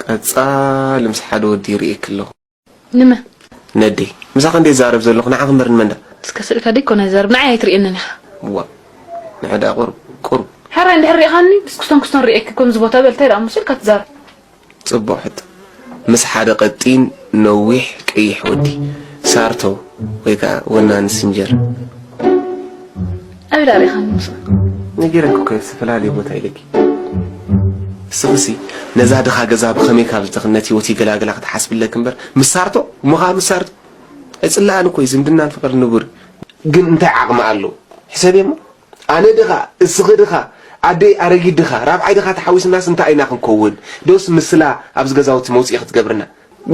ቀጻሊ ምስ ሓደ ወዲ ይርእየኪ ኣለኹ። ንመ? ነዴ። ምሳኺ እንዴ ዝዛረብ ዘለኹ ንዓኺ እምበር ንመን ደኣ? እስከ ስእልካ ደይኮነ ዝዛረብ ንዓይ ኣይትርእየንን ኢኻ። ዋእ ንዐ ደኣ ቁሩብ ቁሩብ። ሕራይ እንድሕር ሪኢኻኒ ብስኩስቶን ኩስቶን ሪኤኪ ከምዚ ቦታ በል እንታይ ደኣ እሞ ስእልካ ትዛረብ። ጽቡቕ ሕቶ። ምስ ሓደ ቀጢን ነዊሕ ቀይሕ ወዲ ሳርቶ ወይ ከኣ ወናኒ ስንጀር። ኣበይ ዳሪኻኒ ምስኡ? ነጊረኪ እኮ እየ ዝተፈላለየ ቦታ ኢለኪ። እስኺሲ ነዛ ድኻ ገዛ ብኸመይ ካብ ዝተኽነት ህይወት ይገላግላ ክትሓስቢ ኣለኪ እምበር ምስ ሳርቶ እሞ ከኣ ምስ ሳርቶ ኣይጽላኣን እኮ እዩ ዝምድናን ፍቅርን ንቡር እዩ። ግን እንታይ ዓቅሚ ኣለዎ ሕሰብዮ እሞ ኣነ ድኻ እስኺ ድኻ ኣደይ ኣረጊት ድኻ ራብዓይ ድኻ ተሓዊስናስ እንታይ ኢና ክንኮውን ዶስ ምስላ ኣብዚ ገዛውቲ መውጽኢ ክትገብርና።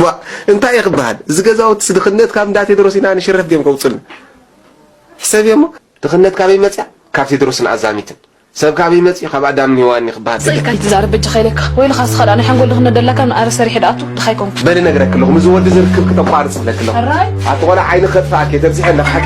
ዋእ እንታይ እየ ክበሃል እዚ ገዛውትስ ድኽነት ካብ እንዳ ቴድሮስ ኢና ንሽረፍ ድዮም ከውጹልና ሕሰብዮ እሞ። ድኽነት ካበይ መጽያ ካብ ቴድሮስን ኣዛሚትን። ሰብ ካበይ መጽዩ ካብ ኣዳምን ሄዋንን'ዩ ክበሃል ስቅ ኢልካ ኣይትዛረብ በጃኻ ኢለካ። ወይ ኢልኻስ እስኻ ድኣ ናይ ሓንጎል ድኽነት ደላካ እምኒ ኣረ ሰሪሐ ድኣቱ ድኻ ኣይኮንኩን። በሊ ነግረኪ ኣለኹ ምስዚ ወዲ እዚ ርክብኪ ተቋርጺ እብለኪ ኣለኹ ኣቲ ቆልዓ ዓይኒ ከጥፍኣኪ እየ ተብዚሐ እንዳ ሓቂ።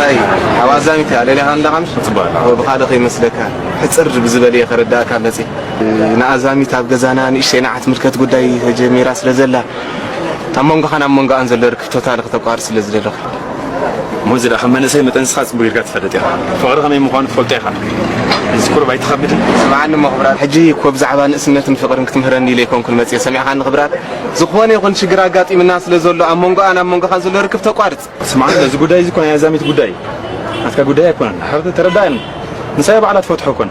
ራይ ኣብ ኣዛሚት እያ ለሊኻ እንዳኻምሽ ብኻልእ ከይመስለካ ሕፅር ብዝበለ እየ ከረዳእካ መፂ ንኣዛሚት ኣብ ገዛና ንእሽተይ ንዓት ምልከት ጉዳይ ተጀሚራ ስለ ዘላ ኣብ መንጎኻን ኣብ መንጎኣን ዘሎ ርክብ ቶታሊ ክተቋርፅ ስለ ዝደለኹ ሞዚ ድኣ ከም መንእሰይ መጠን ንስኻ ጽቡቅ ጌርካ ትፈልጥ ኢኻ ፍቅሪ ከመይ ምኳኑ ትፈልጦ ኢኻ እዚ ቁሩብ ኣይትኸብድን። ስምዓኒ እሞ ክብራት ሕጂ እኮ ብዛዕባ ንእስነትን ፍቅርን ክትምህረኒ ኢለ ኣይኮንኩን መጽየ ሰሚዕኻኒ ክብራት ዝኾነ ይኹን ሽግር ኣጋጢምና ስለ ዘሎ ኣብ መንጎኣን ኣብ መንጎኻን ዘሎ ርክብ ተቋርጽ። ስምዓኒ እዚ ጉዳይ እዚ እኮ ናይ ኣዛሚት ጉዳይ እዩ ናትካ ጉዳይ ኣይኮነን ተረዳኣኒ ንሳያ ባዕላ ትፈትሖ እኮን።